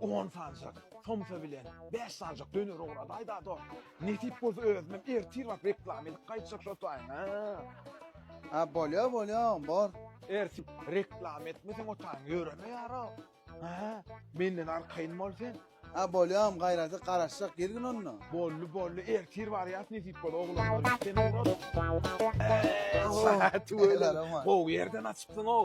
On sanjak somsa bilen bäş sanjak döner ugradaý dado. Nesip bolsa özümem ertir baryp reklama edip gaýtjak şo taýyn. A bolýa bolýa bor. Ertip reklama etmeseň otaň ýöreme ýaro. Aha, menden arkaýyn bol sen. A bolýam gaýraty garaşjak girgin onda. Bolly bolly ertir barýas nesip bolsa oglanlar. Sen ugra. Sagat welin gowy ýerden açypsyň-ow.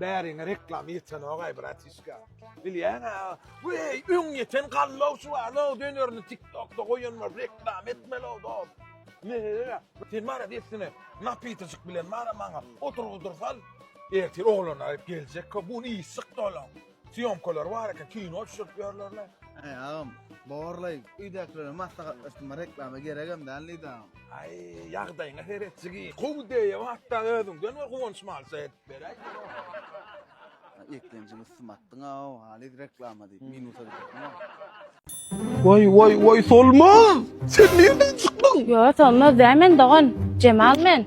Bäriňe reklama ýetenogay bratiska. Bilýäňä, weý, öň ýeten gallaw şu bar, o dönerini TikTokda goýan bar, reklama etmeli o dos. Meherem, sen bar ya dessine, napitocik bilen bar ya maňa, oturgydyrsal. Ertir oglanlar geljek, bu iş çykdy olaň. Syýomkalar bar eken, kino düşürip ýörlerler. Aý agam, borlaý, öýdäkilere maslahatlaşdyma reklama geregem däl diýdi agam. Aý, ýagdaýyňa seretjigi, gowy deýýä hatda özüňden bir guwanç malça edip beräý. eklenjini üstüme atdyň aw, halyz reklama diýip minusa düşüpdiň. Woý, woý, woý, Solmaz! Sen nirden çykdyň? Ýo, Solmaz däl men, dogan. Jemal men.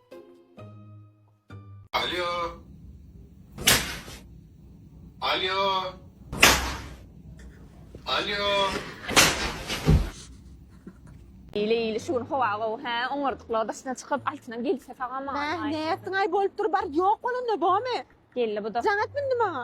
Alýo. Alýo. Alýo. Eýle eýle şu gün howa gowy hä oňardyklar daşyna çykyp altynyň gelse sagama. Näh nätdiň aý bolup dur bar ýok bolanda bomy. Geldi bu da. Jaň etmindi maňa.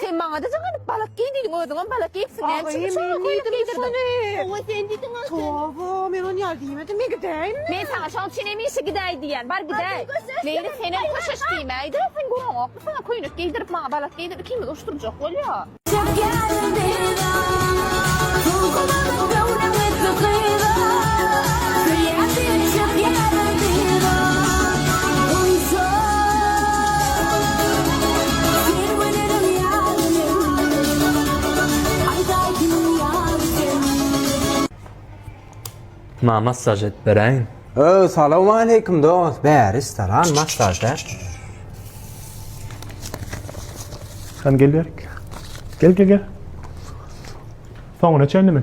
Sen maňa diýseň hany balak geý diýdiň özüňem balak geýipsiň näme üçin şoňa köýnek geýdirdiň? Hawa sen diýdiň aslynda. Toba men ony ýaly diýmedim men gidäýinmi? Men saňa şoň üçin hemişe gidäý diýýän bar gidäý. Meýli senem köşeş diýmäýde sen görüňokmy saňa köýnek geýdirip maňa balak geýdirip ikimizi uruşdyrjak bolýa. Çekýärin dilda Dulgularyň göwnüňi sykyda Söýýän seni çekýärin dilda Onsoň Her gülerim ýar men. Aýdaý kimin ýar sen. Ma massaj edip beräýiň. Öo salowmaleýkim dos bäri stalan massaj däl. Hany gel berik. Gel gel gel. Soňuna çenlimi.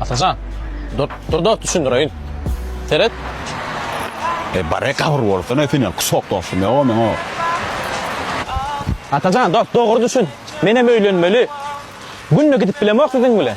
Atajan, dur, dur, dur, düşündireyin. Seret. E bare kabur bolsa ne seni kusok dostum ya o men o. Atajan, dur, doğru düşün. Menem öylenmeli. Günde gidip bilemok sizin bile.